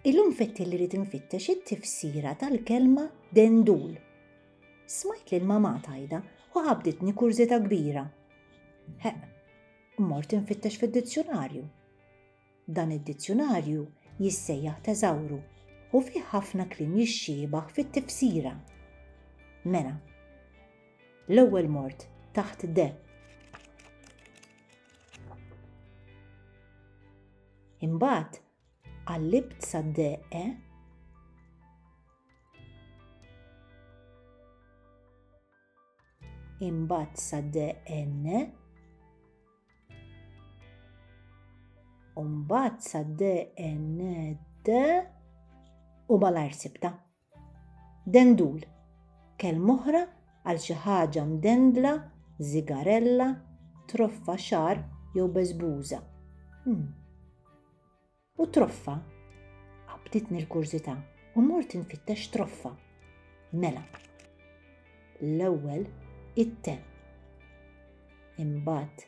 Illum fettil li rrid infittex it-tifsira tal-kelma dendul. Smajt lil mamà tajda u qabditni kurżità kbira. Heq, mort infittex fid-dizzjunarju. Dan id-dizzjunarju jissejjaħ teżawru u fih ħafna kliem jixxiebaħ fit-tifsira. Mela, l-ewwel mort taħt de. Imbagħad qallibt sad-deqq imbagħad sa DN u mbagħad sa DN D u malajr sibta. Dendul, kelm'oħra għal xi ħaġa mdendla, żigarella, troffa xagħar jew beżbuża. Hmm. U troffa? Qabditni l-kurżità u mort infittex troffa. Mela. L-ewwel it-te. Imbagħad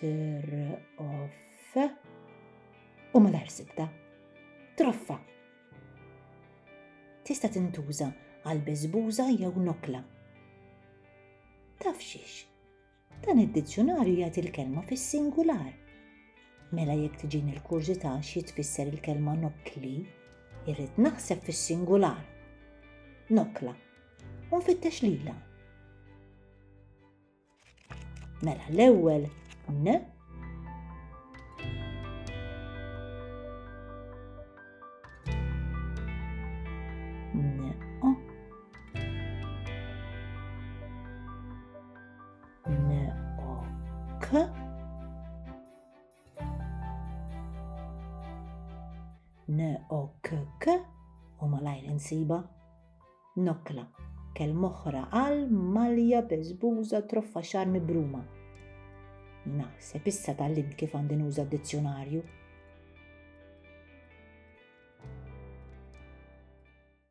Troff. U malajr sibta. Troffa. Tista' tintuża għal biżbuża jew nokla. Taf xiex? Dan id-dizzjonarju jagħti l-kelma fis-singular. Mela jekk tiġin il-kurżità xi tfisser il-kelma nokli, irrid naħseb fis-singular. Nokla. U nfittex lila. Mela l-ewwel n n o k k u malajr insiba Nokla, kelma oħra għal malja, beżbuża, troffa xagħar mibruma. Naħseb issa tgħallimt kif għandi nuża d-dizzjunarju.